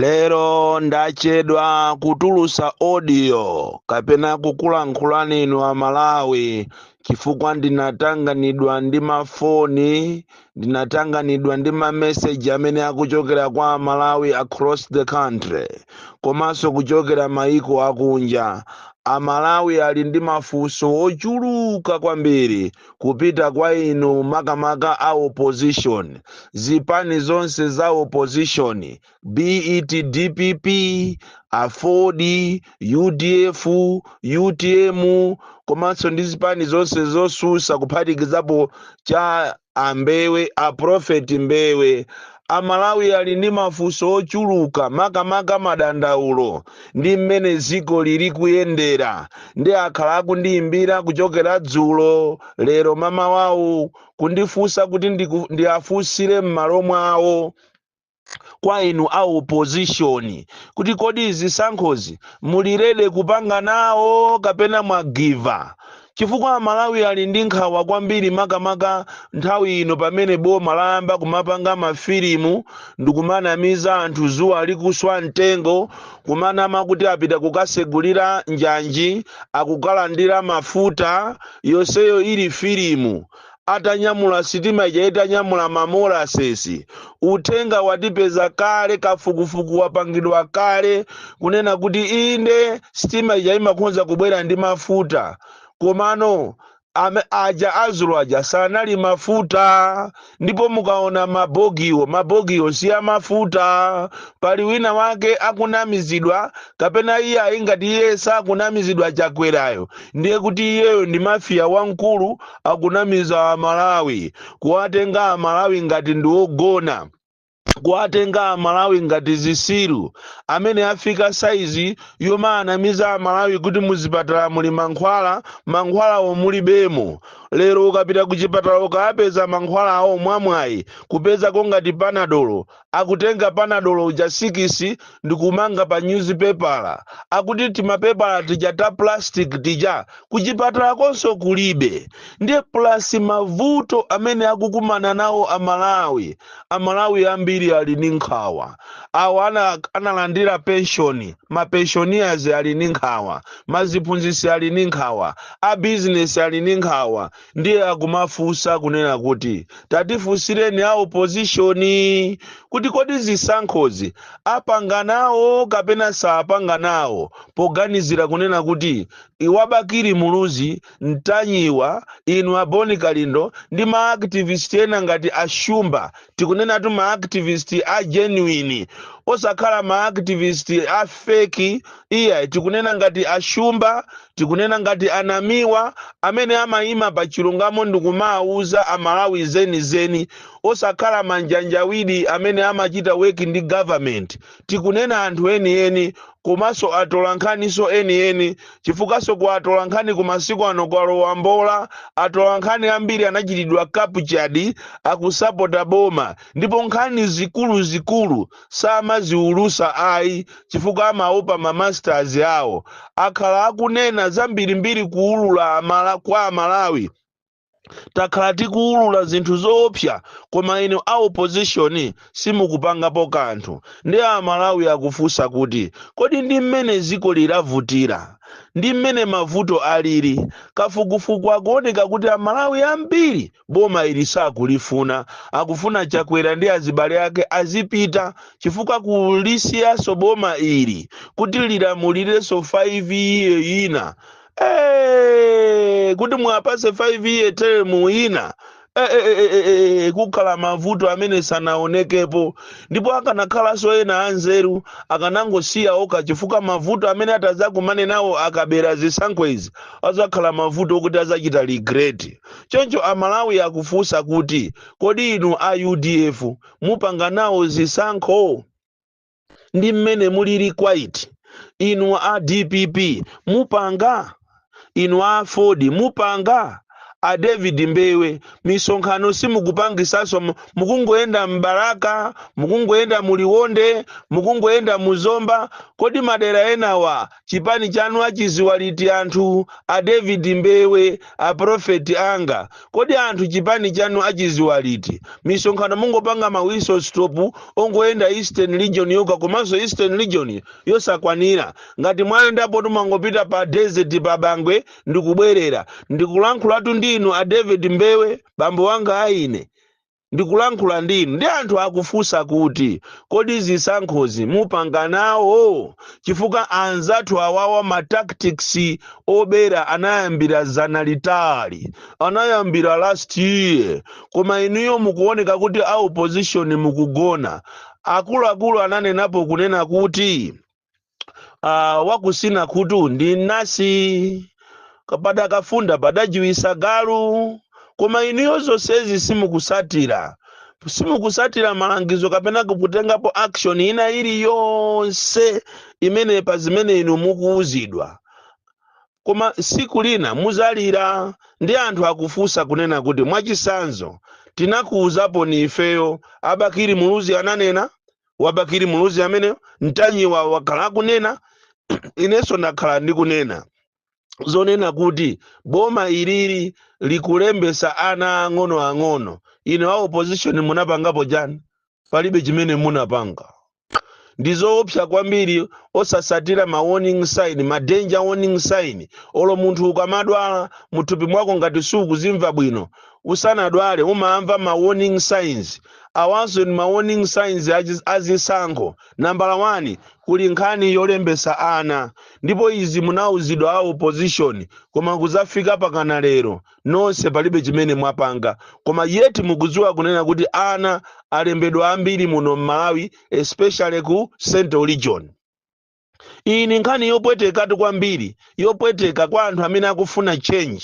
lero ndachedwa kutulusa audio kapena kukulankhulani inu amalawi chifukwa ndinatanganidwa ndi mafoni ndinatanganidwa ndi mameseji amene akuchokera kwa amalawi across the country komanso kuchokera maiko akunja amalawi ali ndi mafunso ochuluka kwambiri kupita kwa inu makamaka a opposition zipani zonse za opposition be it dpp aford udf utm komanso ndi zipani zonse zosusa kuphatikizapo cha ambewe aprofeti mbewe Amalawi ali ndi mafunso ochuluka makamaka madandaulo ndi mmene dziko lili kuyendera nde akhala akundiyimbira kuchokera dzulo, lero mamawawu kundifunsa kuti ndiku, ndiafunsire mmalo mwawo kwa inu a opposition kuti kodi zisankhozi muli ready kupanga nawo kapena mwa give up? chifukwa Amalawi ali ndi nkhawa kwambiri makamaka nthawi ino pamene boma layamba kumapanga mafilimu ndikumanamiza anthu zuwa likuswa mtengo kumanama kuti apita kukasegulira njanji akukalandira mafuta yonseyo ili filimu atanyamula sitima ija itanyamula mamolasesi uthenga watipeza kale kafukufuku wapangidwa kale kunena kuti inde sitima ija imakhonza kubwera ndi mafuta komano aja azulo aja sanali mafuta ndipo mukaona mabogiwo mabogiwo si amafuta pali wina wake akunamizidwa kapena iye ayi ngati iye sakunamizidwa chakwerayo ndiye kuti iyeyo ndi mafiya wamkulu akunamiza amalawi kuwatenga amalawi ngati ndi ogona kuwatenga amalawi ngati zisiru mmene afika saizi yomaanamiza amalawi kuti muzipatala muli mankhwala mankhwalawo mulibemo lero ukapita ku chipatala ukapeza mankhwalawo mwamwayi kupezako ngati panadolo akutenga panadolo uja sikisi ndikumanga pa nyuzipepala akuti timapepala tija ta plastic tija kuchipatala konso kulibe ndiye plus mavuto amene akukumana nawo amalawi amalawi ambiri ali ndi nkhawa awa analandira penshoni mapenshoniers ali ndi nkhawa maziphunzitsi ali ndi nkhawa abizinesi ali ndi nkhawa ndiye akumafunsa kunena kuti tatifunsireni a opozishoni kuti kodi zisankhozi apanga nawo kapena sapanga nawo poganizira kunena kuti inu a Bakili Muluzi Ntanyiwa inu aboni kalindo ndi maaktivist ena ngati ashumba tikunenatu ma activist a genuine osakhala ma activist a fake iya tikunena ngati ashumba tikunena ngati anamiwa amene amayima pa chilungamo ndikumawuza amalawi zenizeni osakhala manjanjawidi amene amachita work ndi government tikunena anthu enieni komanso atolankhaniso enieni chifukwaso ku atolankhani ku masiku ano kwalowa mbola atolankhani ambiri anachitidwa captured akusapota boma ndipo nkhani zikuluzikulu samaziulusa ayi chifukwa amaopa mamasters awo akhala akunena zambirimbiri kuulula kwa amalawi takhala tikuwulula zinthu zoopsa koma inu a opposition simukupangapo kanthu ndi amalawi akufunsa kuti kodi ndi mmene dziko lilavutira ndi mmene mavuto alili kafukufuku akuoneka kuti amalawi ambiri boma ili sakulifuna akufuna chakwera ndi azibale ake azipita chifukwa kulisiyaso boma ili kuti lilamulireso 5 year ina Eh, kuti muwapase 5 year term ina Eh, eh, eh, eh, eh, eh, kukhala mavuto amene sanaonekepo ndipo akanakhalanso ena anzeru akanangosiya oka chifukwa mavuto amene atadzakumane nawo akabera zisankho izi azakhala mavuto okuti azachita regret choncho amalawi akufunsa kuti kodi inu a udf mupanga nawo zisankho ndi mmene mulili quiet inu a dpp mupanga inu a aford mupanga a david mbewe misonkhano simukupangisaso mu- mukungoyenda mbalaka mukungoyenda muliwonde mukungoyenda muzomba kodi madera enawa Chipani chanu achiziwa liti anthu a David Mbewe a prophet anga kodi anthu chipani chanu achiziwa liti misonkhano mungopanga ma whistle stop ongoyenda eastern region yoka komanso eastern region yosakwanira ngati mwayendapo kumangopita pa desert pa bangwe ndikubwerera ndikulankhulatu ndi inu a David Mbewe bambo wanga aine ndikulankhula ndi inu ndi anthu akufunsa kuti kodi zisankhozi mupanga nawo chifukwa anzathu awawa ma tactics obera anayambira zana litali anayambira last year koma inuyo mukuoneka kuti a opposition mukugona akuluakulu ananenapo kunena kuti ah, wakutsina khutu ndi mnansi kapada kafunda padajiwitsa galu koma inuyo zonsezi simukutsatira simukutsatira malangizo kapena kutengapo action ina iliyonse imene pa zimene inu mukuwuzidwa koma tsiku lina mudzalira ndi anthu akufunsa kunena kuti mwachitsanzo tinakuwuzaponi ifeyo a Bakili Muluzi ananena wa Bakili Muluzi amene Ntanyiwa wakhala akunena inenso ndakhala ndikunena zonena kuti boma ilili likulembesa ana ang'ono ang'ono inu a opposition munapangapo chani palibe chimene munapanga ndi zoopsa kwambiri osatsatira ma warning sign ma danger warning sign olo munthu ukamadwala muthupi mwako ngati sukuzimva bwino usanadwale umamva ma warning signs awanso ndi ma warning signs achi- azisankho nambala 1 kuli nkhani yolembesa ana ndipo izi munauzidwa a opposition koma kudzafika mpakana lero nonse palibe chimene mwapanga koma yeti mukudziwa kunena kuti ana alembedwa ambiri muno m'malawi especially ku central region iyi ndi nkhani yopwetekatu kwambiri yopweteka kwa anthu amene akufuna change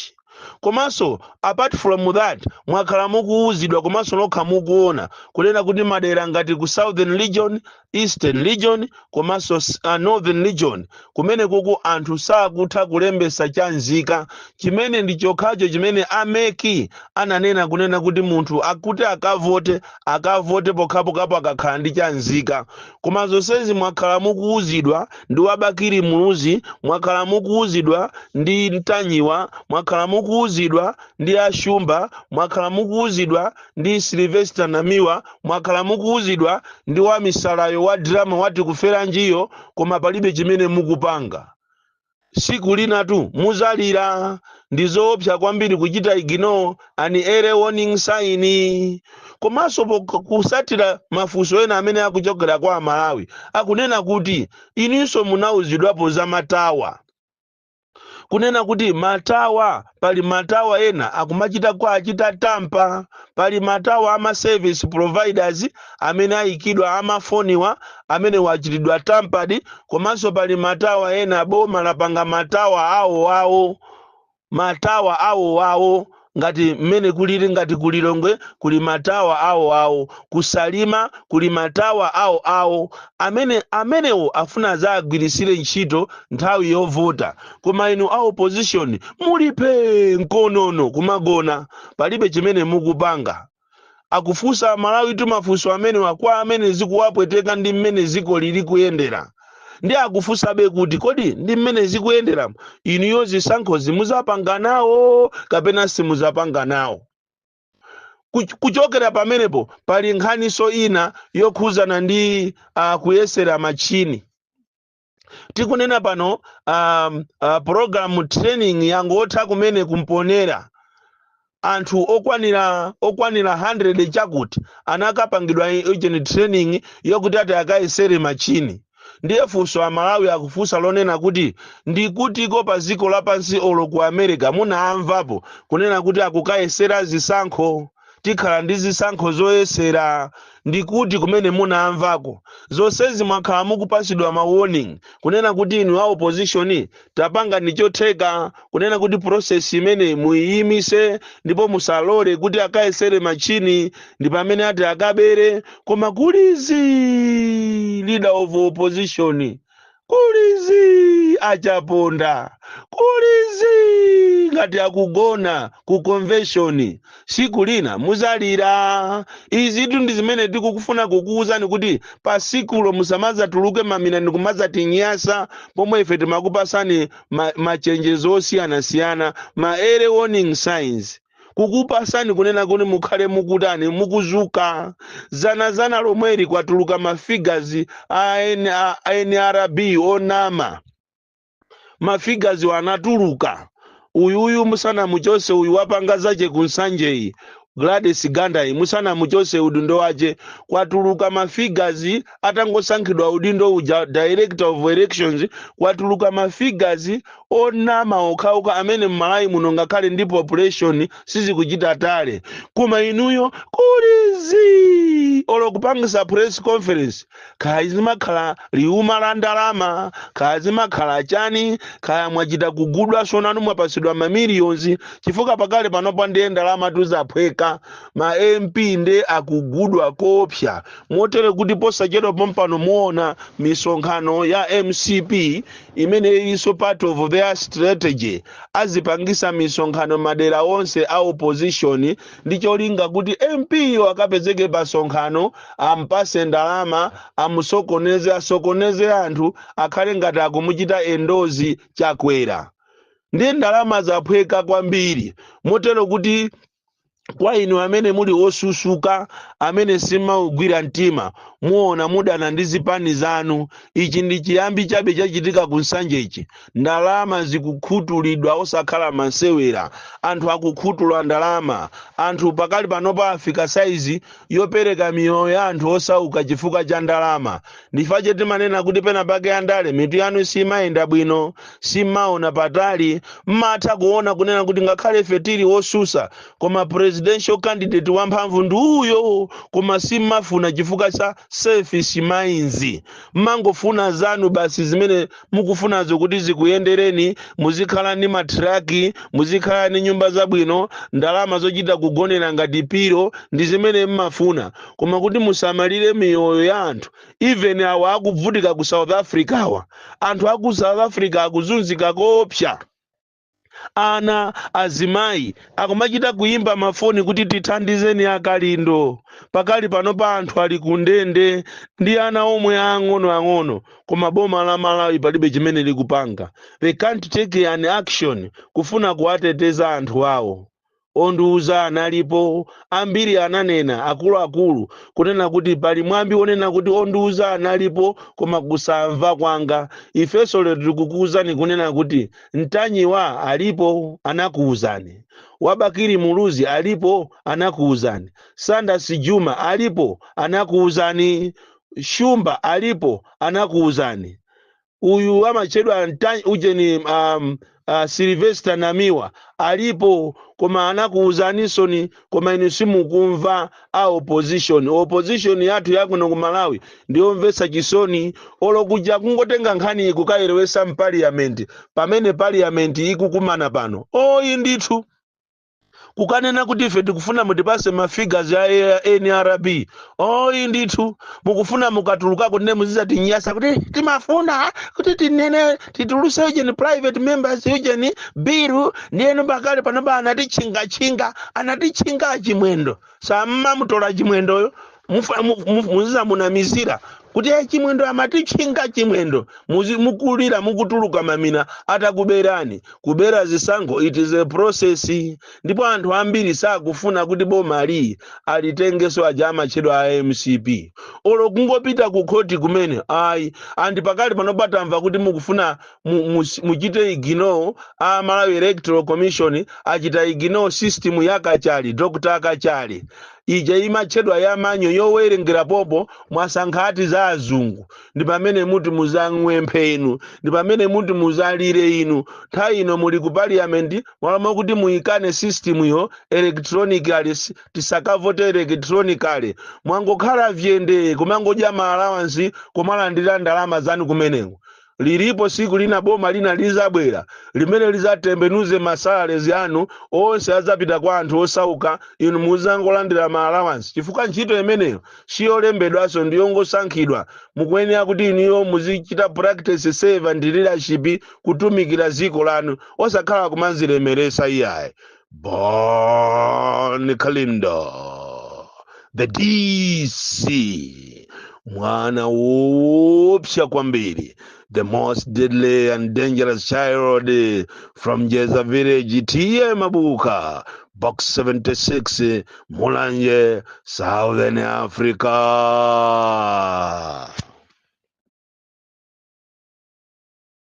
komanso apart from that mwakhala mukuwuzidwa komanso nokha mukuona kunena kuti madera ngati ku southern region eastern region komanso s- uh, northern region kumene kuku anthu sakutha kulembesa cha nzika chimene ndi chokhacho chimene a MEC ananena kunena kuti munthu akathe akavote akavote pokhapokhapo akakhala ndi cha nzika koma zonsezi mwakhala mukuwuzidwa ndi wa Bakili Muluzi mwakhala mukuwuzidwa ndi Ntanyiwa mwakhala mukuwuzidwa ndi a Shumba mwakhala mukuwuzidwa ndi Sylvester Namiwa mwakhala mukuwuzidwa ndi wamisalayo wa drama wati kuferanjiyo koma palibe chimene mukupanga tsiku linatu mudzalira ndi zoopsa kwambiri kuchita ignore an early warning sign komanso pok- kutsatira mafunso ena amene akuchokera kwa amalawi akunena kuti inenso munauzidwapo za matawa kunena kuti matawa Pali matawa ena akumachita kuwachita tamper. Pali matawa ama service providers amene ayikidwa amafoniwa amenewo achitidwa tampered komanso pali matawa ena boma lapanga matawa awo awo matawa awo awo ngati mmene kulili ngati ku Lilongwe kuli matawa awo awo ku Salima kuli matawa awo awo amene amenewo afuna adzagwiritsire ntchito nthawi yovota koma inu a opposition muli phee nkonono kumagona palibe chimene mukupanga akufunsa amalawi tu mafunso amenewa kwa amene zikuwapweteka ndi mmene ziko likuli kuyendera ndi akufunsabe kuti kodi ndi mmene zikuyendera inuyo zisankho zimuzapanga nawo kapena simuzapanga nawo Kuch- kuchokera pamenepo pali nkhaniso ina yokhuzana ndi uh, kuyesera machini tikunena pano um, uh, program training yangotha kumene ku Mponela anthu okwanira okwanira 100 chakuti anakapangidwa ujeni training yokuti ati akayesere machini ndiye funso amalawi akufunsa nlonena kuti ndikutiko pa dziko lapansi olo ku america munamvapo kunena kuti akukayesera zisankho tikhala ndi zisankho zoyesera ndi kuti kumene munamvako zonsezi mwakhala mukupasidwa ma warning kunena kuti inu a opposition tapangani chotheka kunena kuti process imene muyiyimise ndipo musalole kuti akayesere machini ndi pamene ati akabere koma kuli zii leader of opposition kuli zii a Chaponda kuli zii ngati akugona ku convention siku lina muzalira izitu ndi zimene tikufuna kukuwuzani kuti pa sikulo musamazatuluke mamina ndi kumazatinyasa pomwe ife timakupasani ma- machenjezo osiyanasiyana ma early warning signs kukupasani kunena kuti mukhale mukutani mukuzuka zanazana lomweli kwatuluka mafigazi a N- a- a nrb onama mafigaziwo anatuluka uyuyu musanamuchose uyu wapanga zache kunsanjeyi Gladys Gandayi musanamuchose udindo wache kwatuluka mafigazi atangosankhidwa udindo uja director of elections kwatuluka mafigazi onama okhaoka amene mmalawi muno ngakhale ndi population sizikuchita tally koma inuyo kuli zii olo kupangisa press conference kaya zimakhala liuma la ndalama kaya zimakhala chani kaya mwachita kugudwa so nanu mwapasidwa mamiliyonzi chifukwa pakale panopa ndiye ndalamatu zaphweka ma mp nde akugudwa koopsa motere kuti posachedwa pompano muona misonkhano ya mcp imene ilinso part of their strategy azipangisa misonkhano madera onse a opposition ndi cholinga kuti mp yo akapezeke pa sonkhano ampase ndalama amusokoneze asokoneze anthu akhale ngati akumuchita endorse chakwera ndiye ndalama zaphweka kwambiri motero kuti kwa inu amene muli osusuka amene simaugwira mtima muona mudana ndi zipani zanu ichi ndi chiyambi chabe chachitika ku nsanjechi ndalama zikukhutulidwa osakhala masewera anthu akukhutula ndalama anthu pakali panopa afika saizi yopereka miyoyo ya anthu osauka chifukwa cha ndalama ndi chifukwa chake timanena kuti pena pake andale mitu yanu simayenda bwino simaona patali mmatha kuona kunena kuti ngakhale ife tili otsutsa koma presidential candidate wamphamvu ndi uyo koma simmafuna chifukwa cha selfish minds mmangofuna zanu basi zimene mukufunazo kuti zikuyendereni muzikhala ndi matraki muzikhala ndi nyumba zabwino ndalama zochita kugonera ngati piro ndi zimene mmafuna koma kuti musamalire miyoyo ya anthu even awa akuvutika ku south africawa anthu aku south africa akuzunzika koopsa ana azimayi akumachita kuyimba mafoni kuti tithandizeni akalindo pakali pano pa anthu ali kundende ndi ana omwe ang'onoang'ono koma boma la malawi palibe chimene likupanga they can't take an action kufuna kuwateteza anthu awo Ondiuza analipo, ambiri ananena, akuluakulu, kunena kuti pali mwambi wonena kuti ondiuza analipo, koma kusamva kwanga. Ifenso lero tikukuuzani kunena kuti Ntanyiwa alipo, anakuuzani. Wa Bakili Muluzi alipo, anakuuzani. Sanders Juma alipo, anakuuzani. Shumba alipo, anakuuzani. uyu amatchedwa Nta- ujeni um, uh, silvester namiwa alipo koma anakuwuzanitsoni koma inu simukumva a opposition opposition yathu yakuno ku malawi ndiyomvetsa chisoni olokuja kungotenga nkhani iyi kukayerekeza mpaliyamenti pamene paliyamenti ikukumana pano oyi ndithu kukanena kuti ife tikufuna mutipatse ma figures ya nrb oyi ndithu mukufuna mukatulukako muzizatinyasa kuti timafuna kuti tinene tituluse ujeni private members ujeni biru ndiyeno pakali panopa anatitchingatchinga anatitchinga achimwendo sammamutola chimwendoyo muzizamunamizira kuti "Eh, chimwendo amatitchinga chimwendo Muzi- mukulira mukutuluka mamina atakuberani kubera zisankho it is a process ndipo anthu ambiri sakufuna kuti boma liyi alitengenso aja amatchedwa a mcp olo kungopita ku khoti kumene ayi andi pakali pano patamva kuti mukufuna mu- mu- muchite ignore a malawi electoral commission achita ignore system ya kachali dr kachali ija imatchedwa ya manyo yowerengera poti mwasankha ati za azungu ndi pamene muti muzang'wenthe inu ndi pamene muti muzalire inu nthawi ino muli ku parliament malo mwakuti muyikane system yo electronically s- tisakavote electronically mwangokhala phee ndi kumangodya ma allowance kumalandira ndalama zanu kumeneko lilipo siku lina boma lina lizabwera limene lizatembenuze masalaries anu onse azapita kwa anthu osauka inu muzangolandira ma allowance chifukwa ntchito imeneyo siyolembedwanso ndi yongosankhidwa mukuyenera kuti inuyo muzichita practice servant leadership kutumikira dziko lanu osakhala kumazilemeresa iyayi Bon Kalindo, the DC, mwana woopsa kwambiri, the most deadly and dangerous child eh, from Jeza village, TM Abuka, box 76, eh, Mulanje, Southern Africa.